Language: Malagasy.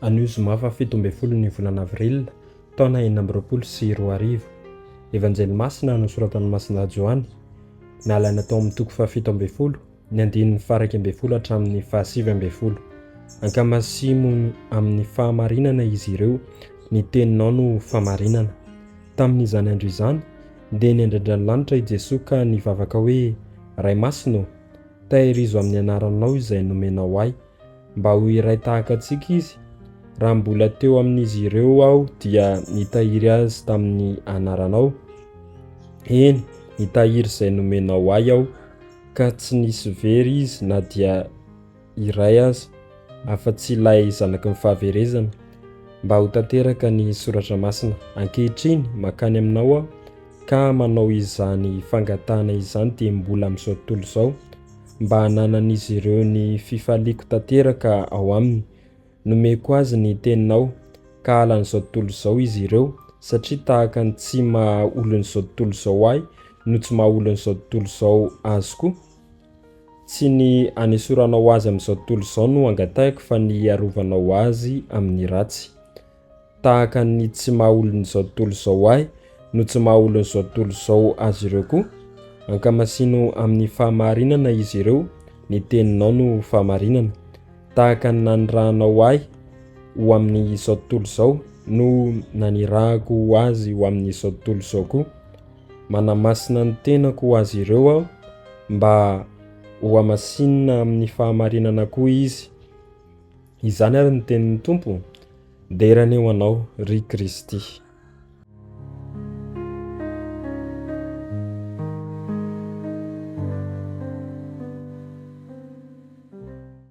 Anio zoma fahafito ambin'ny folo ny volana avril, taona enina amby roapolo sy roa arivo. Evanjely masina nosoratan'i Masina Joany, nalaina tao amin'ny toko fahafito ambin'ny folo, ny andininy faharaika ambin'ny folo hatramin'ny fahasivy ambin'ny folo. Ankamasimo amin'ny fahamarinana izy ireo, ny teninao no famarinana. Tamin'izany andro izany, Ndeha niandrian-dranolanitra i Jesoa ka nivavaka hoe, Ray Masina ô, tahirizo amin'ny anaranao izay nomenao ahy, mba ho iray tahaka antsika izy. Raha mbola teo amin'izy ireo aho dia nitahiry azy tamin'ny anaranao, eny, nitahiry izay nomenao ahy aho, ka tsy nisy very izy na dia iray aza afa-tsy ilay zanaky ny fahaverezana. Mba ho tanteraka ny soratra masina ankehitriny mankany aminao aho ka manao izany fangatahana izany dia mbola amin'izao tontolo izao mba hananan'izy ireo ny fifaliako tanteraka ao aminy. Nomeko azy ny teninao ka halan'izao tontolo izao izy ireo satria tahaka ny tsy maha olon'izao tontolo izao ahy no tsy maha olon'izao tontolo izao azy koa. Tsy ny hanesoranao azy amin'izao tontolo izao no angatahiko fa ny hiarovanao azy amin'ny ratsy. Tahaka ny tsy maha olon'izao tontolo izao ahy no tsy maha olon'izao tontolo izao azy ireo koa. Ankamasino amin'ny fahamarinana izy ireo, ny teninao no fahamarinana. Tahaka ny nanirahanao ahy ho amin'izao tontolo izao no nanirahako azy ho amin'izao tontolo izao koa. Manamasina ny tenako ho azy ireo aho, mba hohamasinina amin'ny fahamarinana koa izy. Izany àry ny tenin'ny Tompo, Dera anie ho anao, ry Kristy.